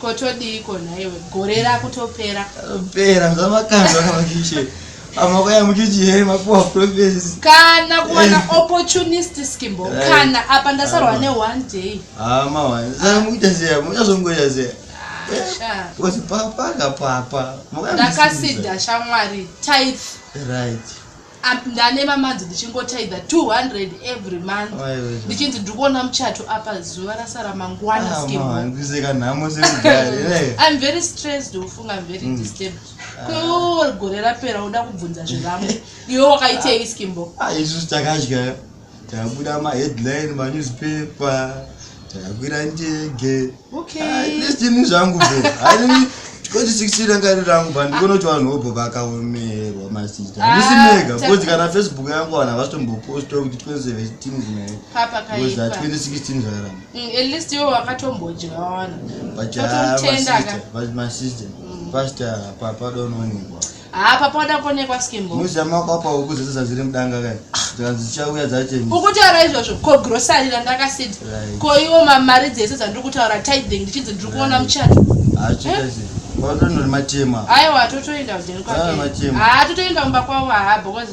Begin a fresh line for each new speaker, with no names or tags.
Ko todiiko
nhaiwe gore rakutopera. Pera
zvamakandwa kamakishe. Amako ya muchichi here mapuwa profesi. Kana kuwana
opportunist skimbo eh. kana apa ndasarwa ne one day. Ah mawa. Zana
muita zia muchazongoita zia. Kuti papa kapapa. Ndakasida
shamwari tithe. Right.
Up ndane
mamanzi ndichingotaidza 200 every month ndichinzi ndiri kuona muchato apa zuva rasara mangwana ah, skimandiseka nhamo sekudari eh. im very stressed ufunga im very mm. disturbed ah. kwewo gore rapera uda kubvunza zvevamwe iwe wakaitei skimbo ah, isusu takadya
tabuda maheadline manewspaper takwira ndege okaylisini
ah, zvangu bo
aii 2016 ranga iri rangu ba ndikona kuti vanhu vobho vakaomerwa masita handisi ah, mega because kana facebook yangu vanhu havasitomboposta kuti 2017 zinaebecause 2016
zvakaramba
atleast iwo
wakatombodyawana
but masista pasta papadonoonekwa haa papa wada kuonekwa
skimbo muzama kwapa huku dzese
dzaziri mudanga kai dzikanzi dzichauya dzacheni ukutaura izvozvo ko
grosari randakasiti ko iwo mamari dzese dzandiri kutaura tithing ndichinzi ndiri kuona muchato achikazi
Watoenda matema. Aiwa totoenda
kudeni kwake. Matema. Ah totoenda kumba kwavo haa because